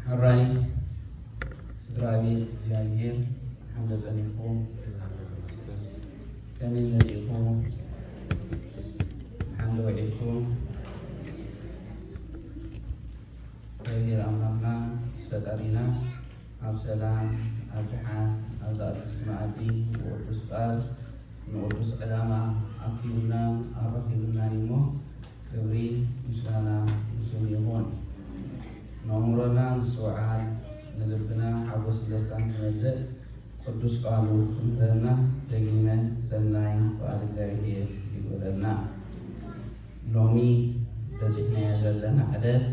ሕራይ ስድራ ቤት እግዚኣብሔር ሓምለ ጸኒሕኩም ከመይ መጺእኩም ሓምለ ወዒልኩም እግዚኣብሔር ኣምላኽና ፈጣሪና ኣብ ሰላም ኣብ ድሓን ኣብ ዝኣድስ መኣዲ ንቅዱስ ቃል ንቅዱስ ዕላማ ኣኪቡናን ኣረኪቡናን እሞ ክብሪ ምስጋና ንስሙ ይኹን። ነእምሮና ምስ ዝውዓል ንልብና ሓጎስን ደስታን ዝመልእ ቅዱስ ቃሉ ክምህረና ደጊመ ሰናይ ፍቓድ እግዚኣብሄር ይግበረልና። ሎሚ በጺሕናዮ ዘለና ዕለት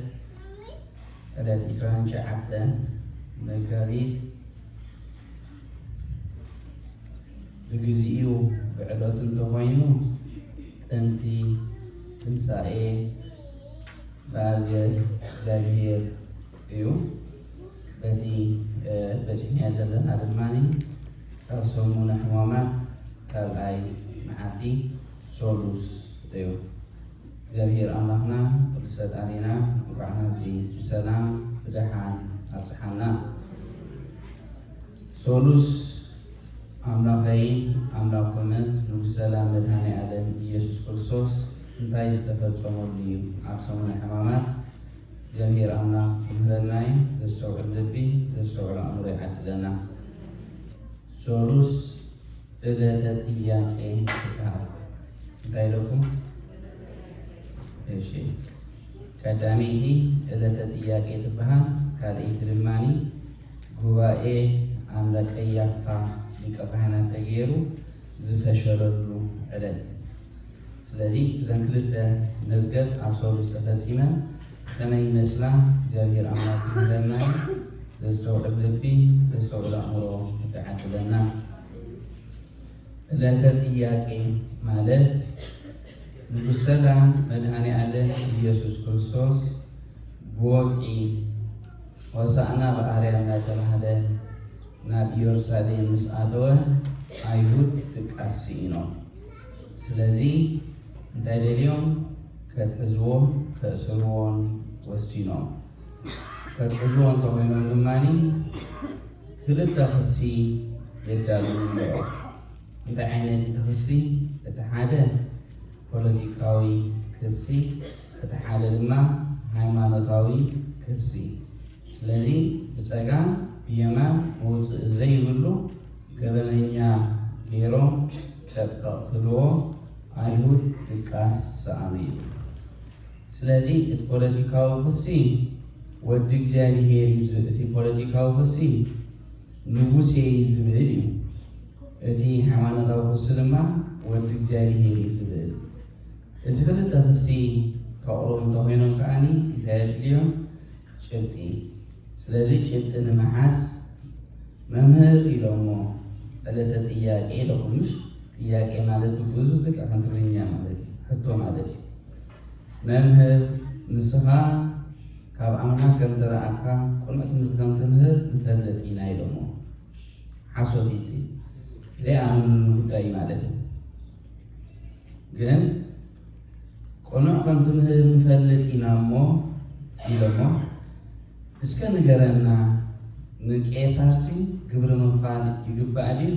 ዕለት ዕስራን ትሽዓተን መጋቢት ብግዚኡ ብዕለቱ እንተኾይኑ ጥንቲ ትንሳኤ ብኣገ እግዚኣብሔር እዩ። በቲ በጺሕናዮ ዘለና ድማ ካብ ሰሙነ ሕማማት ካልኣይ መዓልቲ ሰሉስ እዩ። እግዚኣብሔር ኣምላኽና ቅዱስ ፈጣሪና እንኳዕ ናብዚ ብሰላም ብደሓን ኣብጽሓና። ሰሉስ ኣምላኸይን ኣምላኩምን ንጉስ ሰላም መድኃኔዓለም ኢየሱስ ክርስቶስ እንታይ ዝተፈጸመሉ እዩ? ኣብ ሰሙነ ሕማማት እግዚአብሔር ኣምላኽ ክምህረናይ ዘስተውዕል ልቢ ዘስተውዕል ኣእምሮ ይዓድለና። ሰሉስ እለተ ጥያቄ ትበሃል። እንታይ ኢለኩም? እሺ ቀዳመይቲ እለተ ጥያቄ ትበሃል፣ ካልኣይቲ ድማኒ ጉባኤ ኣምረ ቀያፋ ሊቀ ካህናት ተገይሩ ዝፈሸለሉ ዕለት እዩ። ስለዚ እዘን ክልተ መዝገብ ኣብ ሰሉስ ተፈፂመን ከመይ ይመስላ እግዚኣብሔር ኣምላክ ይምህረና እዩ። ዘስተውዕል ልቢ ዘስተውዕል ኣእምሮ ይዓድለና። ዕለተ ጥያቄ ማለት ንጉሥ ሰላም መድኃኔ ዓለም ኢየሱስ ክርስቶስ ብወግዒ ሆሣዕና በኣርያም እናተባህለ ናብ ኢየሩሳሌም ምስ ኣተወ ኣይሁድ ድቃስ ስኢኖም። ስለዚ እንታይ ደልዮም? ከትሕዝዎ ከእስርዎን ወሲኖም። ከትሕዝዎ እንተኾይኖም ድማ ክልተ ክሲ የዳልዉ ኣለዉ። እንታይ ዓይነት እቲ ክሲ? እቲ ሓደ ፖለቲካዊ ክሲ፣ እቲ ሓደ ድማ ሃይማኖታዊ ክሲ ስለዚ ብጸጋም ብየማን መውጽኢ ዘይብሉ ገበነኛ ጌሮም ጠቅጠቅ ትብልዎ ኣይሁድ ድቃስ ሰኣኑ እዩ ስለዚ እቲ ፖለቲካዊ ክሲ ወዲ እግዚኣብሄር እዩ ዝብል እቲ ፖለቲካዊ ክሲ ንጉሴ እዩ ዝብል እዩ እቲ ሃይማኖታዊ ክሲ ድማ ወዲ እግዚኣብሄር እዩ ዝብል እዚ ክልተ ክሲ ከቕርቡ እንተኾይኖም ከኣ እንታይ የድልዮም? ጭብጢ። ስለዚ ጭብጢ ንምሓዝ መምህር ኢሎሞ ዕለተ ጥያቄ ኢሎኹምሽ ጥያቄ ማለት ብግእዙ ልክዕ ከም ትግርኛ ማለት እዩ፣ ሕቶ ማለት እዩ። መምህር ንስኻ ካብ ኣምላኽ ከም ተረኣካ ቅኑዕ ትምህርቲ ከም ትምህር ንፈልጥ ኢና ኢሎሞ። ሓሶት እዩ፣ ዘይኣመንሉ ጉዳይ ማለት እዩ። ግን ቅኑዕ ከም ትምህር ንፈልጥ ኢና እሞ ኢሎሞ እስከ ንገረና ንቄሳርሲ ግብሪ ምኽፋል ይግባእ ድዩ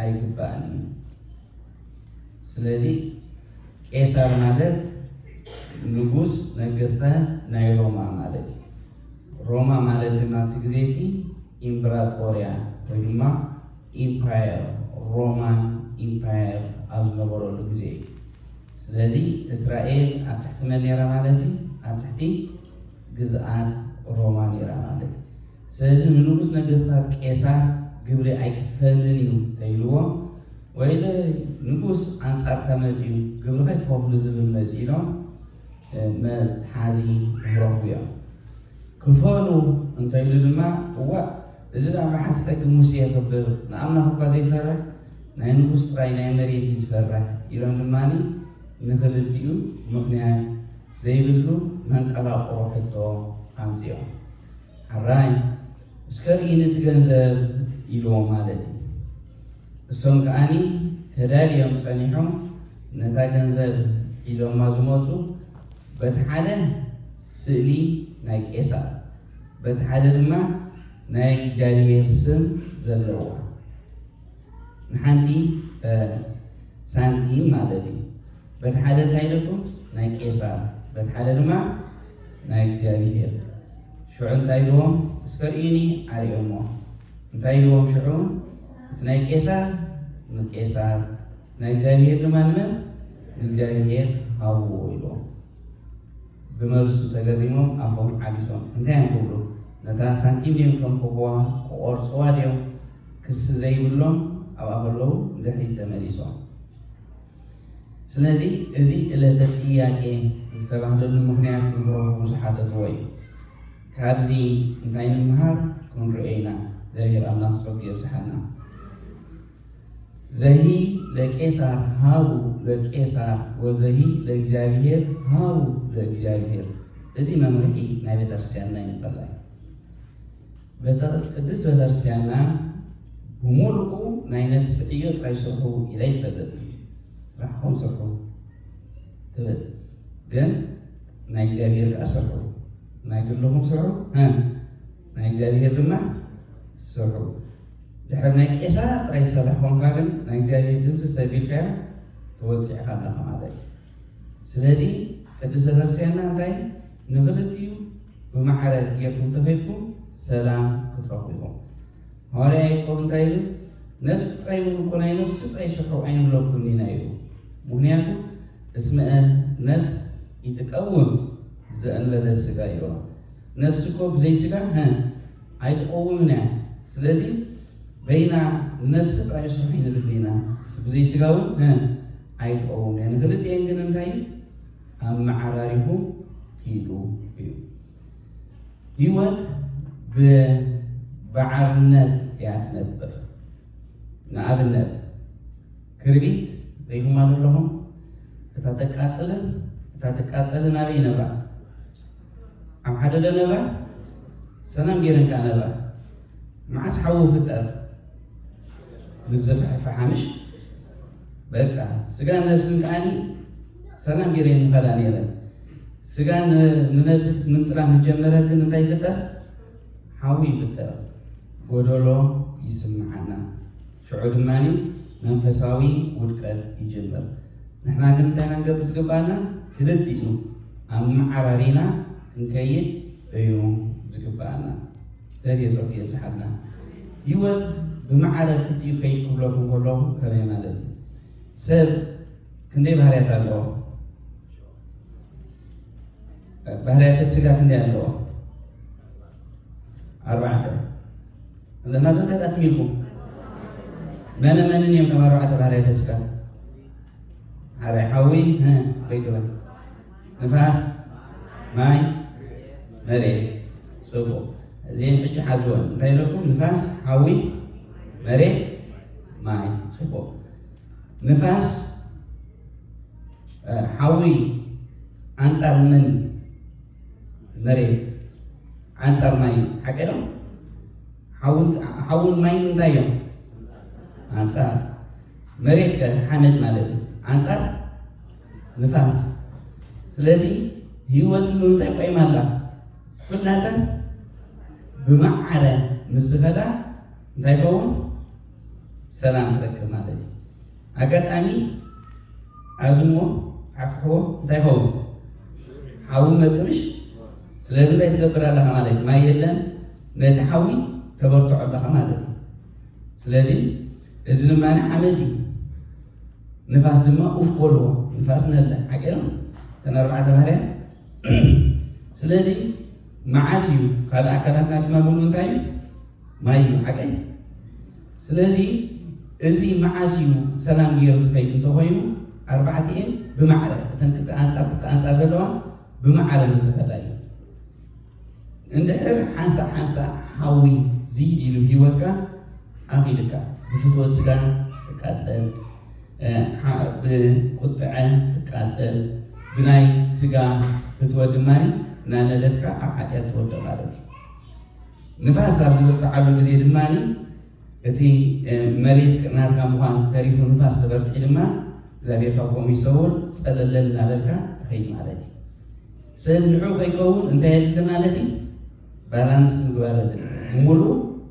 ኣይግባእን እዩ። ስለዚ ቄሳር ማለት ንጉስ ነገስታት ናይ ሮማ ማለት እዩ። ሮማ ማለት ድማ ኣብቲ ግዜ እቲ ኢምብራጦርያ ወይ ድማ ኢምፓየር ሮማን ኢምፓየር ኣብ ዝነበረሉ ግዜ እዩ። ስለዚ እስራኤል ኣብ ትሕቲ መን ነይራ ማለት እዩ? ኣብ ትሕቲ ግዝኣት ሮማ ነይራ ማለት እዩ። ስለዚ ንንጉስ ነገስታት ቄሳር ግብሪ ኣይክፈልን እዩ ተይልዎም ወይ ንጉስ ኣንጻርካ መጺኡ ግብሪ ከይትኸፍሉ ዝብል መጺ ኢሎም መትሓዚ ይረኽቡ እዮም። ክፈሉ እንተይሉ ድማ እዋእ እዚ ደኣ መዓስ ሕጊ ሙሴ የኽብር ንኣምላኽ እኳ ዘይፈርሕ ናይ ንጉስ ጥራይ ናይ መሬት እዩ ዝፈርሕ ኢሎም ድማ ንኽልቲኡ ምኽንያት ዘይብሉ መንቀራቕሮ ሕቶ ኣምጺኦም ሐራይ እስከ ርኢኒ እቲ ገንዘብ ኢልዎም ማለት እዩ እሶም ከኣ ተዳልዮም ጸኒሖም ነታ ገንዘብ ሒዞማ ዝመጹ በቲ ሓደ ስእሊ ናይ ቄሳር በቲ ሓደ ድማ ናይ እግዚኣብሔር ስም ዘለዋ ንሓንቲ ሳንቲም ማለት እዩ። በቲ ሓደ እንታይ ኢለኩም ናይ ቄሳር፣ በቲ ሓደ ድማ ናይ እግዚኣብሔር። ሽዑ እንታይ ኢልዎም እስከ ርእዩኒ ኣርእዮሞ። እንታይ ኢልዎም ሽዑ እቲ ናይ ቄሳር ንቄሳር፣ ናይ እግዚኣብሔር ድማ ንመን ንእግዚኣብሔር ሃብዎ ኢልዎም። ብመልሱ ተገሪሞም ኣፎም ዓቢሶም እንታይ እዮም ክብሉ ነታ ሳንቲም ድዮም ከም ኮኾዋ ክቖርጽዋ ድዮም ክሲ ዘይብሎም ኣብኣ ከለዉ ንድሕሪት ተመሊሶም ስለዚ እዚ እለተ ጥያቄ ዝተባህለሉ ምክንያት ንክረኽቡ ዝሓተትዎ እዩ ካብዚ እንታይ ንምሃር ክንሪኦ ኢና እግዚኣብሔር ኣምላኽ ጸጉ የብዝሓልና ዘሂ ለቄሳር ሃቡ ለቄሳር ወዘሂ ለእግዚኣብሔር ሃቡ ለእግዚኣብሔር እዚ መምርሒ ናይ ቤተክርስቲያንና እዩ እንፈላይ ቅድስት ቤተክርስቲያንና ብምሉኡ ናይ ነፍሲ ዕዮ ጥራይ ስርሑ ኢላ ይትፈልጥ ስራሕኩም ስርሑ ትብል ግን ናይ እግዚኣብሔር ከዓ ስርሑ ናይ ግልኹም ስርሑ ናይ እግዚኣብሔር ድማ ስርሑ ድሕሪ ናይ ቄሳር ጥራይ ዝሰራሕ ኮንካ ግን ናይ እግዚኣብሔር ድምፂ ሰቢልካዮ ተወፂዕካ ኣለካ ማለት እዩ ስለዚ ቅድስተ ክርስቲያንና እንታይ ንክልቲኡ ብማዕረ ጌርኩም ተኸድኩም ሰላም ክትረኽቡ ኢኹም ሃዋርያ ያዕቆብ እንታይ ይብል ነፍሲ ጥራይ እውን እኮ ናይ ነፍሲ ጥራይ ሽሑ ኣይንብለኩም ኢና ይብሉ ምክንያቱ እስመ ነፍስ ይትቀውም ዘእንበለ ስጋ ይዋ ነፍሲ እኮ ብዘይ ስጋ ሀ ኣይትቐውምን እያ ስለዚ በይና ንነፍሲ ጥራይ ስራሕ ይንብል ኢና ብዘይ ስጋ እውን ሀ ኣይትቐውምን እያ ንክልቲኤን ግን እንታይ እዩ ኣመዓራሪኹም ኪዱ እዩ ህይወት ብባዕርነት እያ ትነብር ንኣብነት ክርቢት ሪኹማ ዘለኹም እታ ተቃፅልን እታ ትቃፀልን ኣበይ ይነብራ ኣብ ሓደ ዶ ነብራ ሰላም ገይረን ከኣ ነብራ መዓስ ሓዊ ፍጠር ምስ ዝፍሕፍሓ ምሽ በቃ ስጋን ነብስን ከዓኒ ሰላም ገይረን ዝኸዳ ነይረን ስጋን ንነብሲ ክትምንጥላ ምስ ጀመረት ግን እንታይ ይፍጠር ሓዊ ይፍጠር ጎደሎ ይስምዓና ሽዑ ድማ መንፈሳዊ ውድቀት ይጅምር። ንሕና ግን እንታይ ኢና ክንገብር ዝግብኣና? ክልቲኡ ኣመዓራሪና ክንከይድ እዩ ዝግብኣና። እግዚኣቢሄር ጸጉ የብዝሓልና። ህይወት ብመዓረ ክልቲኡ ከይድ ክብለኩም ከለኹ ከመይ ማለት እዩ? ሰብ ክንደይ ባህርያት ኣለዎ? ባህርያተ ስጋ ክንደይ ኣለዎ? ኣርባዕተ እምነታት እንታይ ዳኣ ትሚልኩም መነ መንን እዮም ከም ኣርባዕተ ባህርያት ተስፋ ሓደ ሓዊ ዘይትበል ንፋስ ማይ መሬት ፅቡቅ እዚአን ሕጂ ሓዝወን እንታይ ኢለኩም ንፋስ ሓዊ መሬት ማይ ፅቡቅ ንፋስ ሓዊ ኣንፃር መን እዩ መሬት ኣንጻር ማይ እዩ ሓቂ ዶ ሓውን ማይን እንታይ እዮም ኣንጻር መሬት ከ ሓመድ ማለት እዩ ኣንጻር ንፋስ ስለዚ ህይወት ንምንታይ ቆይማ ኣላ ኩላተን ብማዕረ ምስ ዝኸዳ እንታይ ይኸውን ሰላም ትረክብ ማለት እዩ ኣጋጣሚ ኣዝሞ ዓፍሕዎ እንታይ ይኸውን ሓዊ መፅርሽ ስለዚ እንታይ ትገብር ኣለኻ ማለት እዩ ማይ የለን ነቲ ሓዊ ተበርትዖ ኣለኻ ማለት እዩ ስለዚ እዚ ድማ ሓመድ እዩ ንፋስ ድማ ኡፍ በልዎ ንፋስ ነለ ሓቂ ነው ተን ኣርባዕተ ባህርያ ስለዚ መዓስ እዩ ካልእ ኣካላትና ድማ ምሉ እንታይ እዩ ማይ እዩ ዓቀይ ስለዚ እዚ መዓስ እዩ ሰላም ገይሩ ዝኸይድ እንተኾይኑ ኣርባዕቲኤን ብማዕረ እተን ክልተ ኣንጻር ክልተ ኣንጻር ዘለዋ ብማዕረ ምስ ዝኸዳ እዩ እንድሕር ሓንሳእ ሓንሳእ ሓዊ ዝይድ ኢሉ ህይወትካ ኣኺድካ ብፍትወት ስጋ ትቃፀል ብቁጥዐ ትቃፀል ብናይ ስጋ ፍትወት ድማ እናነደድካ ኣብ ሓጢኣት ትወድቕ ማለት እዩ ንፋስ ኣብ ዝብርትዓሉ ግዜ ድማ እቲ መሬት ናትካ ምዃን ተሪፉ ንፋስ ተበርቲዑ ድማ እግዚኣብሔር ካብ ከምኡ ይሰውር ፀለለል እናበልካ ትኸይድ ማለት እዩ። ስለዚ ንዑ ከይከውን እንታይ የድሊ ማለት እዩ? ባላንስ ምግባር የድሊ። ሙሉ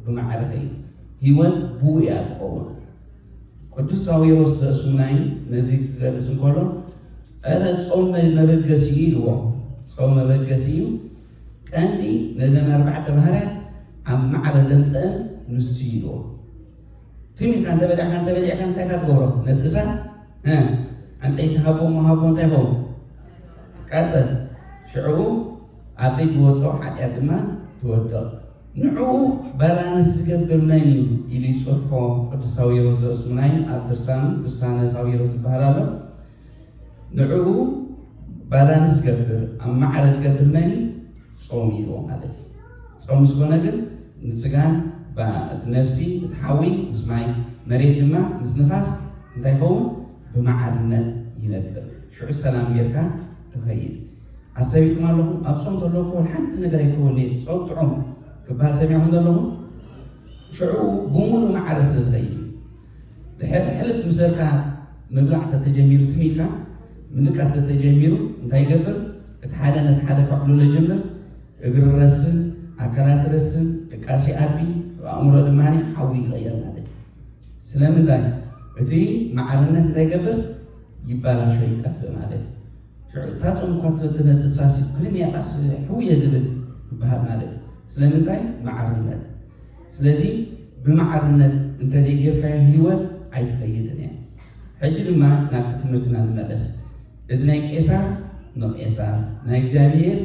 ብማዕረ ከይድ ህይወት ብኡ እያ ትኸውን። ቅዱስ ሳዊሮስ ዘእሱናይ ነዚ ክገልጽ እንከሎ እረ ጾም መበገሲ እዩ ኢልዎ። ጾም መበገሲ እዩ ቀንዲ ነዘን ኣርባዕተ ባህርያት ኣብ ማዕረ ዘምጸእን ንሱ'ዩ ኢልዎ። ትም ኢልካ እንተበሊዕካ እንተበሊዕካ እንታይ ኢኻ ትገብሮ? ነቲ እሳት ዕንጸይቲ ሃቦ እሞ ሃቦ እንታይ ይኸውን? ቀጽል ሽዕኡ ኣብ ዘይትወጾ ሓጢኣት ድማ ትወድቕ። ንዕኡ ባላንስ ዝገብር መን እዩ ኢሉ ይጽሕፎ ቅዱስ ሳዊሮስ ዘእስሙናይን ኣብ ድርሳኑ ድርሳነ ሳዊሮስ ዝበሃል ኣሎ። ንዑኡ ባላንስ ዝገብር ኣብ ማዕረ ዝገብር መን እዩ? ጾም እዩ ኢልዎ ማለት እዩ። ጾም ምስ ኮነ ግን ምስ ስጋን እቲ ነፍሲ እቲ ሓዊ ምስ ማይ መሬት ድማ ምስ ንፋስ እንታይ ይኸውን? ብማዕርነት ይነብር። ሽዑ ሰላም ጌርካ ትኸይድ። ኣሰቢኩም ኣለኹም ኣብ ጾም ተሎ እኮ ሓንቲ ነገር ኣይከውን'የ ጾም ጥዑም ክበሃል ሰሚዕኩም ዘለኹም ሽዑ ብምሉእ ማዕረ ስለ ዝኸይድ እዩ። ድሕር ሕልፍ ምስ በልካ ምብላዕ ተተጀሚሩ ትም ኢልካ ምድቃስ ተተጀሚሩ እንታይ ይገብር እቲ ሓደ ነቲ ሓደ ከዕብልሎ ይጀምር እግሪ ረስን ኣካላት ረስን ድቃስ ይኣቢ ኣእምሮ ድማ ሓዊ ይቕየር ማለት እዩ ስለምንታይ እቲ ማዕርነት እንታይ ይገብር ይባላሾ ይጠፍእ ማለት እዩ ሽዑ እታ ጾም እኳ ትመጽእ ሳሲ ክልም ያቃስ ሕውየ ዝብል ይበሃል ማለት እዩ ስለምንታይ ማዕርነት ስለዚ ብማዕርነት እንተዘይጌርካዮ ህይወት ኣይትኸይድን እያ። ሕጂ ድማ ናብቲ ትምህርትና ንመለስ። እዚ ናይ ቄሳር ንቄሳር ናይ እግዚኣብሄር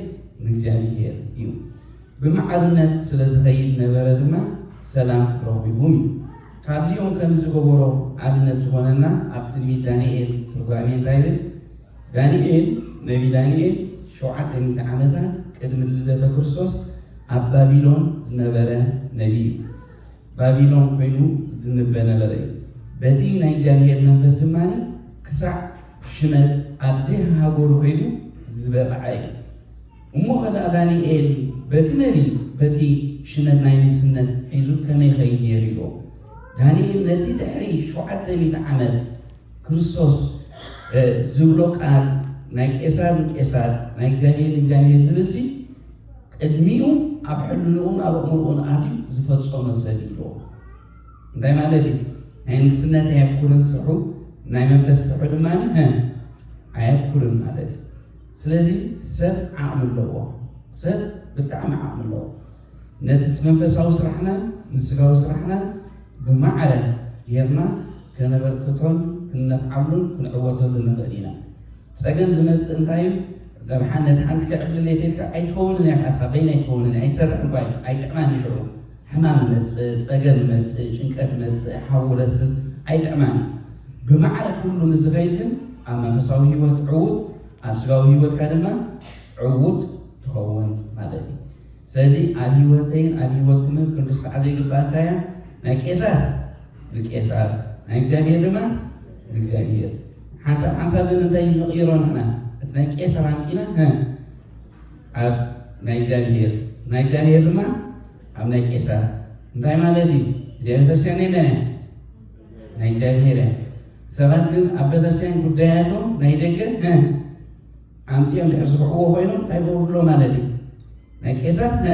ንእግዚኣብሄር እዩ። ብማዕርነት ስለ ዝኸይድ ነበረ ድማ ሰላም ክትረኽቡ ኢኹም እዩ። ካብዚኦም ከምዝገበሮ ኣብነት ዝኾነና ኣብ ትንቢት ዳንኤል ትርጓሜ እንታይ ይብል? ዳንኤል፣ ነቢ ዳንኤል፣ ሸውዓተ ሚእቲ ዓመታት ቅድሚ ልደተ ክርስቶስ ኣብ ባቢሎን ዝነበረ ነቢ እዩ። ባቢሎን ኮይኑ ዝንበ ነበረ እዩ። በቲ ናይ እግዚኣብሔር መንፈስ ድማ ክሳዕ ሽመት ኣብ ዘይሃገሩ ኮይኑ ዝበቕዐ እዩ። እሞ ከደኣ ዳንኤል በቲ ነቢ በቲ ሽመት ናይ ንግስነት ሒዙ ከመይ ኸይድ ነይሩ ኢዮ። ዳንኤል ነቲ ድሕሪ ሸውዓተ ሚእቲ ዓመት ክርስቶስ ዝብሎ ቃል ናይ ቄሳር ንቄሳር ናይ እግዚኣብሔር ንእግዚኣብሔር ዝብል ሲ ቅድሚኡ ኣብ ሕልንኡን ኣብ ኣእምርኡን ኣትዩ ዝፈጸመ ሰብ ኢሎ እንታይ ማለት እዩ ናይ ንግስነት ኣየኩርን ስርሑ ናይ መንፈስ ስርሑ ድማ ኣየኩርን ማለት እዩ ስለዚ ሰብ ዓቕሚ ኣለዎ ሰብ ብጣዕሚ ዓቕሚ ኣለዎ ነቲ መንፈሳዊ ስራሕናን ንስጋዊ ስራሕናን ብማዕረ ጌርና ከነበርክቶን ክንነፍዓሉን ክንዕወተሉን ንኽእል ኢና። ጸገም ዝመጽእ እንታይ እዩ? ገብ ነቲ ሓንቲ ክዕብልል እየ ተልካ ኣይትከውንን እያ ካሳ በይን ኣይትከውንን ኣይትሰርሕን እኳ እዩ ኣይጥዕማን እዩ ሽዑ ሕማም እመጽእ ጸገም እመጽእ ጭንቀት እመጽእ ሓዊ ረስብ ኣይጥዕማን እዩ ብማዕረ ኩሉ ምስ ዝኸይድ ግን ኣብ መንፈሳዊ ህይወት ዕዉት ኣብ ስጋዊ ህይወትካ ድማ ዕዉት ትኸውን ማለት እዩ ስለዚ ኣብ ህይወተይን ኣብ ህይወትኩምን ክንርስዓ ዘይግባእ እንታይ እያ? ናይ ቄሳር ንቄሳር ናይ እግዚኣብሔር ድማ ንእግዚኣብሔር ሓንሳብ ሓንሳብ ግን እንታይ ንቕይሮ ንሕና እቲ ናይ ቄሳር ኣምፂና ኣብ ናይ እግዚኣብሔር ናይ እግዚኣብሔር ድማ ኣብ ናይ ቄሳር እንታይ ማለት እዩ እግዚኣብሔር ቤተክርስትያን ናይ መን ናይ እግዚኣብሔር እያ ሰባት ግን ኣብ ቤተክርስትያን ጉዳያቶም ናይ ደገ ኣምጺኦም ድሕር ዝብዕዎ ኮይኖም እንታይ ይገብሩ ኣሎ ማለት እዩ ናይ ቄሳር ነ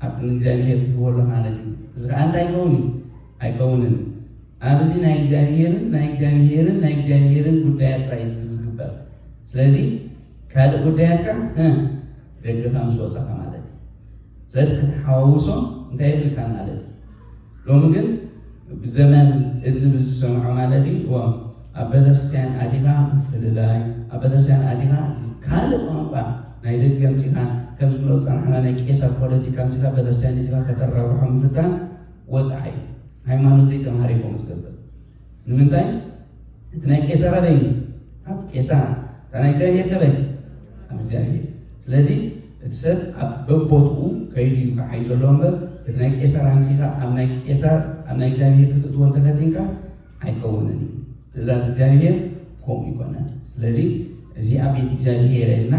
ኣብቲ ንእግዚኣብሄር ትህቦ ኣሎ ማለት እዩ እዚ ከዓ እንታይ ይኸውን እዩ ኣይከውንን ኣብዚ ናይ እግዚኣብሄርን ናይ እግዚኣብሄርን ናይ እግዚኣብሄርን ጉዳያት ጥራይ እዩ ዝግበር ስለዚ ካልእ ጉዳያትካ ደገኻ ምስ ወፃኻ ማለት እዩ ስለዚ ከተሓዋውሶ እንታይ የብልካን ማለት እዩ። ሎሚ ግን ብዘመን እዝኒ ብዝሰምዖ ማለት እዩ እዎም ኣብ ቤተክርስትያን ኣቲኻ ምፍልላይ ኣብ ቤተክርስትያን ኣቲኻ ካልእ ቋንቋ ናይ ደገ ምፂኻ ከም ዝብሎ ፀናሕና ናይ ቄሳር ፖለቲካ ምፂኻ ቤተክርስትያን እቲኻ ከተራብሖ ምፍታን ወፃዓ እዩ ሃይማኖተይ ተምሃሪኮ ዝገብር ንምንታይ እቲ ናይ ቄሳር ኣበይ እዩ? ኣብ ቄሳር። እታ ናይ እግዚኣብሔር ከበይ? ኣብ እግዚኣብሔር። ስለዚ እቲ ሰብ ኣብ በቦትኡ ከይዱ እዩ ክዓይ ዘለዎ እምበር እቲ ናይ ቄሳር ኣምፂኻ ኣብ ናይ ቄሳር ኣብ ናይ እግዚኣብሔር ክትእትዎ እንተፈቲንካ ኣይከውንን እዩ። ትእዛዝ እግዚኣብሔር ከምኡ ይኮነን። ስለዚ እዚ ኣብ ቤት እግዚኣብሔር ኢልና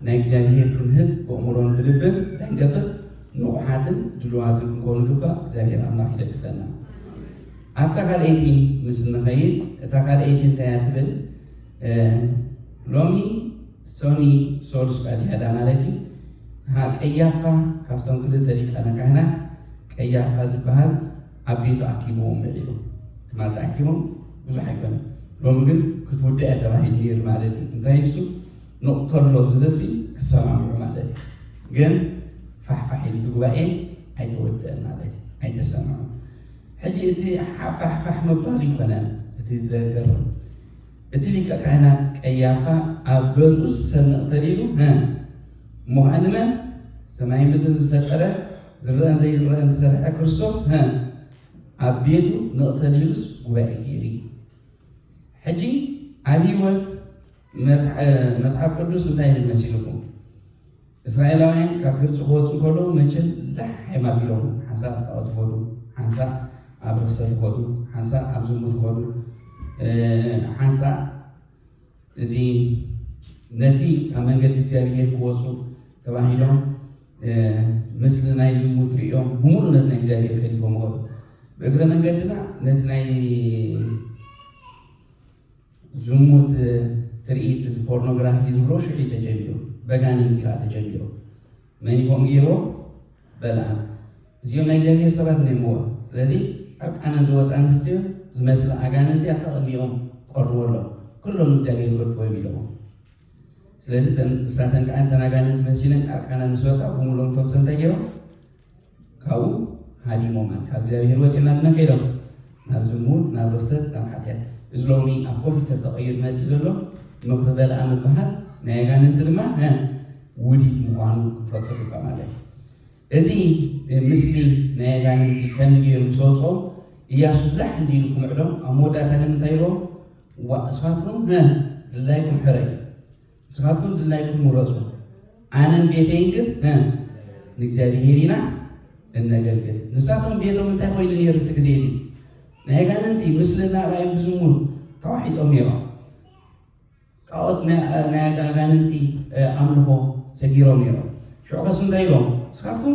ናይ እግዚኣብሔር ክንህብ ብእምሮን ብልብን እንታይ ንገብር ንቑሓትን ድልዋትን ክንከውን ይግባእ። እግዚኣብሔር ኣምላኽ ይደግፈና። ኣብታ ካልኣይቲ ምስ እንኸይድ፣ እታ ካልኣይቲ እንታይ እያ ትብል? ሎሚ ሶኒ ሶሉስ ከኣ ዝያዳ ማለት እዩ ሀ ቀያፋ ካብቶም ክልተ ሊቃነ ካህናት ቀያፋ ዝበሃል ኣብ ቤቱ ኣኪብዎም ምዒሉ ትማልቲ ኣኪቦም ብዙሕ ኣይኮነ ሎሚ ግን ክትውዳእ እያ ተባሂሉ ነይሩ ማለት እዩ እንታይ ንሱ ንቕተሎ ዝብልሲ ክሰማምዑ ማለት እዩ ግን ፋሕፋሕ ኢሉ እቲ ጉባኤ ኣይተወደአን ማለት እዩ ኣይተሰምዑን ሕጂ እቲ ሓፋሕፋሕ ምባል ኣይኮነን እቲ ዘገርም እቲ ሊቀ ካህናት ቀያፋ ኣብ ገዝኡ ሰብ መቕተል ኢሉ ሀ እሞ ኸኣ ንመን ሰማይ ምድርን ዝፈጠረ ዝረአን ዘይረአን ዝሰርሐ ክርስቶስ ሀ ኣብ ቤቱ መቕተል ኢሉስ ጉባኤ ፊሪ ሕጂ ኣብ ህይወት መጽሓፍ ቅዱስ እንታይ ይመስልኩም እስራኤላውያን ካብ ግብጺ ክወጹ እንከለዉ መቸም ላሕ-ሒም ኣቢሎም ሓንሳእ ኣብ ጣኦት ይኸዱ፣ ሓንሳእ ኣብ ርኽሰት ይኸዱ፣ ሓንሳእ ኣብ ዝሙት ይኸዱ፣ ሓንሳእ እዚ ነቲ ካብ መንገዲ እግዚኣብሄር ክወጹ ተባሂሎም ምስሊ ናይ ዝሙት ርእዮም ብምሉእ ነቲ ናይ እግዚኣብሄር ገዲፎም ኸዱ። ብእግረ መንገድና ነቲ ናይ ዝሙት ትርኢት እዚ ፖርኖግራፊ ዝብሎ ሽዑ እዩ ተጀሚሩ በጋንንቲ ከኣ ተጀሚሩ መን ይኮን ገይርዎ በልኣም እዚኦም ናይ እግዚኣብሔር ሰባት ነይምዋ ስለዚ ዕርቃነን ዝወፅ ኣንስትዮ ዝመስላ ኣጋንንቲ ኣብታ ቅድሚኦም ቀርዎ ኣሎ ኩሎም እግዚኣብሔር ገድፍዎም ኢለዎም ስለዚ ንሳተን ከዓ እንተን ኣጋንንቲ መሲለን ዕርቃነን ምስ ወፃ ብምሉኦም ተምሶ እንታይ ገይሮም ካብኡ ሃዲሞም ኣል ካብ እግዚኣብሔር ወፂኦም ናብ መን ከይዶም ናብ ዝሙት ናብ ርሰት ናብ ሓጢኣት እዚ ሎሚ ኣብ ኮምፒውተር ተቐይሩ መፂ ዘሎ ምኽሪ በልኣ ምበሃል ናይ ኣጋንንቲ ድማ ውዲት ምዃኑ ክንፈልጦ ግባ ማለት እዩ እዚ ምስሊ ናይ ኣጋንንቲ ከምዚ ገይሩ ምስ ወፅኦም እያሱ ላሕ እንዲሉ ክምዕዶም ኣብ መወዳእታ ግን እንታይ ኢልዎም ዋእስፋትኩም ድላይኩም ሕረ እዩ ንስኻትኩም ድላይኩም ምረጹ፣ ኣነን ቤተይን ግን ንእግዚኣብሄር ኢና እነገልግል። ንሳቶም ቤቶም እንታይ ኮይኑ ነይሩ እቲ ግዜ እቲ? ናይ ኣጋንንቲ ምስሊ እናርኣዩ ብዝሙት ተዋሒጦም ነይሮም። ጣዖት ናይ ኣጋንንቲ ኣምልኾ ሰጊሮም ነይሮም። ሽዑ ከስ እንታይ ኢሎም? ንስኻትኩም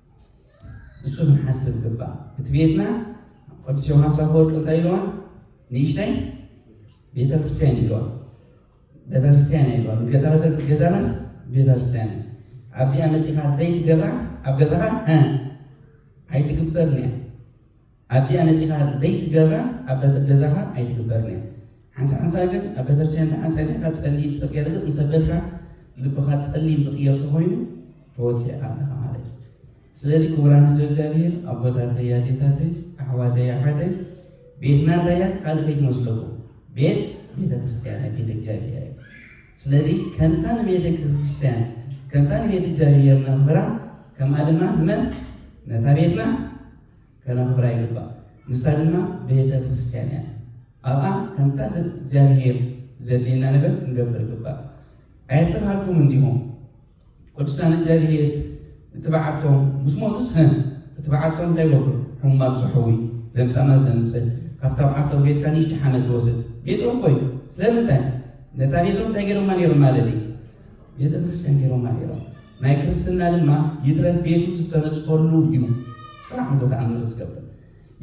ንሱ ክንሓስብ ግባእ እቲ ቤትና ቅዱስ ዮሃንስ ኣፈወርቂ እንታይ ኢልዋ ንእሽተይ ቤተክርስትያን ኢልዋ ቤተክርስትያን ኢልዋ ገዛናስ ቤተክርስትያን እዩ ኣብዚኣ መፂኻ ዘይትገብራ ኣብ ገዛኻ ኣይትግበርን እያ ኣብዚኣ መጺኻ ዘይትገብራ ኣብ በተ ገዛኻ ኣይትግበርን እያ ሓንሳ ሓንሳ ግን ኣብ በተርስትያን ደሓን ጸኒሕካ ጸሊም ጽርግያ ርግጽ ምስ ኣበልካ ልብኻ ጸሊም ዝቕየር ተኾይኑ ተወጺዕካ ኣለኻ ማለት እዩ ስለዚ ክቡራን ህዝቢ እግዚኣብሔር ኣቦታተይ ኣዴታተይ ኣሕዋተይ ኣሓተይ ቤትና እንታይ እያ ካልእ ከይትመስለኩም ቤት ቤተ ክርስቲያን እያ ቤተ እግዚኣብሔር እያ ስለዚ ከምታ ንቤተ ክርስቲያን ከምታ ንቤት እግዚኣብሔር ነኽብራ ከምኣ ድማ ንመን ነታ ቤትና ከነኽብራ ይግባእ። ንሳ ድማ ቤተ ክርስቲያን እያ። ኣብኣ ከምታ እግዚኣብሔር ዘድልየና ነገር ክንገብር ይግባእ። ኣየሰምሃልኩምን ዲኹም? ቅዱሳን እግዚኣብሔር እትበዓቶም ምስ ሞቱስ ህ እትበዓቶም እንታይ ይገብሩ? ሕሙማት ዝሕዊ ለምጻማት ዘንጽህ ካብታ በዓቶም ቤትካ ንእሽቲ ሓመድ ትወስድ ቤቶም እኮ እዩ። ስለምንታይ ነታ ቤቶም እንታይ ገይሮማ ነይሮም ማለት እዩ? ቤተ ክርስቲያን ገይሮማ ነይሮም። ናይ ክርስትና ድማ ይትረፍ ቤቱ ዝተነጽፈሉ እዩ ጽን ዓንጎ ተኣምር ዝገብር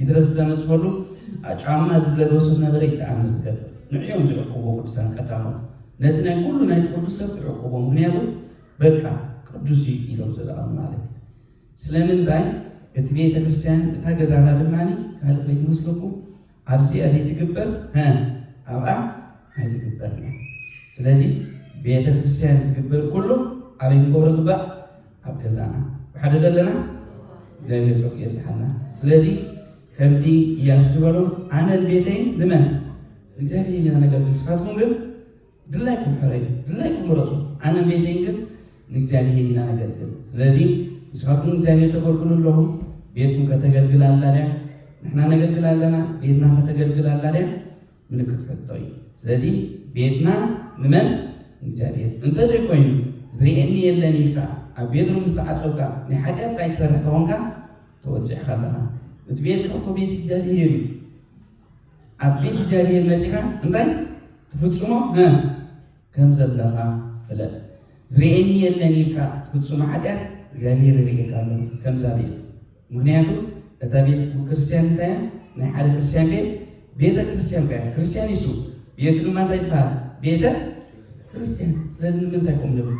ይትረፍ ዝተነጽፈሉ ጫማ ዝለበሶ ዝነበረ ይተኣምር ዝገብር ንዕዮም ዝዕቅብዎ ቅዱሳን ቀዳሞት ነቲ ናይ ኩሉ ናይቲ ቅዱስ ሰብ ክዕቅብዎ ምክንያቱ በቃ ቅዱስ እዩ ኢሎም ስለኣምኑ ማለት እዩ ስለምንታይ እቲ ቤተ ክርስቲያን እታ ገዛና ድማ ካልእ ከይትመስለኩም ኣብዚኣ ዘይትግበር ሀ ኣብኣ ኣይትግበርን እያ። ስለዚ ቤተ ክርስቲያን ዝግበር ኩሉ ኣበይ ክንገብሮ ግባእ? ኣብ ገዛና ብሓደ ደለና እግዚኣብሔር ፀጉ የብዝሓልና። ስለዚ ከምቲ እያሱ ዝበሎ ኣነን ቤተይን ንመን ንእግዚኣብሔር ኢና ነገልግል፣ ንስኻትኩም ግን ግላይኩም ሕረዩ፣ ግላይኩም ምረጹ፣ ኣነን ቤተይን ግን ንእግዚኣብሄር ኢና ነገልግል። ስለዚ ንስኻትኩም ንእግዚኣብሄር ተገልግሉ ኣለኹም፣ ቤትኩም ከተገልግል ኣላ ድያ? ንሕና ነገልግል ኣለና፣ ቤትና ከተገልግል ኣላ ድያ? ምልክት ሕቶ እዩ። ስለዚ ቤትና ንመን? ንእግዚኣብሄር እንተዘይኮይኑ ዝርእየኒ የለን ኢልካ ኣብ ቤትሩ ምስ ተዓጸውካ ናይ ሓጢኣት ጥራይ ትሰርሕ ተኾንካ ተወጺዕካ ኣለኻ። እቲ ቤትካ እኮ ቤት እግዚኣብሄር እዩ። ኣብ ፊት እግዚኣብሄር መጺኻ እንታይ ትፍጽሞ ከም ዘለኻ ፍለጥ። ዝርእየኒ የለን ኢልካ ትፍጽሞ ሓጢኣት እግዚኣብሄር ይርእየካ ኣሎ ከምዛ ቤት። ምኽንያቱ እታ ቤት ክርስትያን እንታይ እያ? ናይ ሓደ ክርስትያን ቤት ቤተ ክርስትያን እያ። ክርስትያን ይሱ ቤቱ ድማ እንታይ ይበሃል? ቤተ ክርስትያን። ስለዚ ንምንታይ ቁም ንብል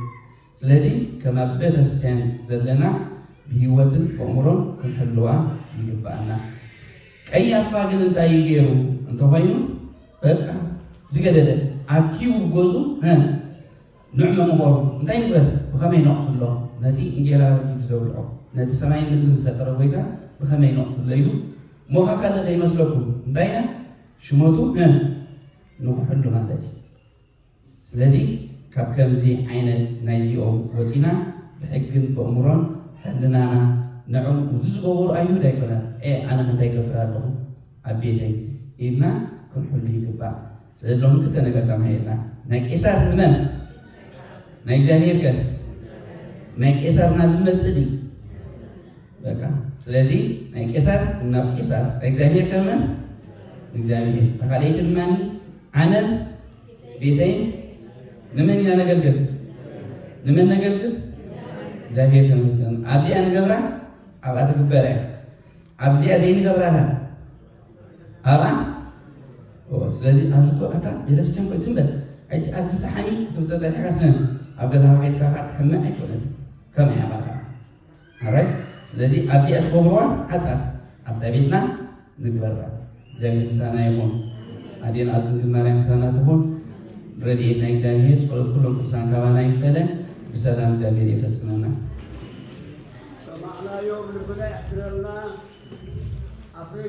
ስለዚ ከም ኣብ ቤተክርስትያን ዘለና ብህይወትን በእምሮን ክንሕልዋ ይግብኣና። ቀያፋ ግን እንታይ እዩ ገይሩ እንተኾይኑ በቃ ዝገደደ ኣኪቡ ብገዝኡ ንዕ መምኸሩ እንታይ ንግበር ብኸመይ ነቕትሎ ነቲ እንጌራ ረኪቱ ዘብልዖ ነቲ ሰማይን ምድርን ዝፈጠረ ጎይታ ብኸመይ ነቕትሎ ኢሉ ሞኻ ካልእ ከይመስለኩም እንታይ ኢና ሽመቱ ንኹሕሉ ማለት እዩ። ስለዚ ካብ ከምዚ ዓይነት ናይዚኦም ወጺና ብሕግን በእምሮን ሕልናና ንዕም እዚ ዝገበሩ ኣይሁድ ኣይኮናን ኤእ ኣነኸ እንታይ ይገብር ኣለኹ ኣብ ቤተይ ኢልና ክንሕሉ ይግባእ። ስለዚ ሎሚ ክልተ ነገር ተማሂርና ናይ ቄሳር ንመን ናይ እግዚኣብሔር ከ ናይ ቄሳር ናብ ዝመጽእ ድዩ በቃ ስለዚ ናይ ቄሳር ናብ ቄሳር ናይ እግዚኣብሔር ከመን ንእግዚኣብሔር ተኻልኣይቲ ድማ ኣነን ቤተይን ንመን ኢና ነገልግል? ንመን ነገልግል? እግዚኣብሔር ተመስገን ኣብዚኣ ንገብራ ኣብኣ ትግበር እያ ኣብዚኣ ዘይንገብራታ ኣብኣ ስለዚ ኣብዚ ኮ ኣታ ቤተክርስትያን ኮ ትንበል ኣይቲ ኣብዚ ተሓሚ ክትብፀ ፀኒሕካ ስነ ኣብ ገዛኻ ከይድካ ከዓ ትሕመ ኣይኮነት ከምኣ እያ ባካ ኣራይት ስለዚ ኣብዚኣ ትገብርዋ ሓጻር ኣብታ ቤትና ንግበራ እግዚኣብሔር ምሳና ይኹን ኣዴና ቅድስት ድንግል ማርያም ምሳና ትኹን ረድኤት ናይ እግዚኣብሔር ጸሎት ኩሎም ቅዱሳን ካባና ይፈለ ብሰላም እግዚኣብሔር የፈጽመና ሰማዕናዮም ልብና የሕድረልና ኣፍረይ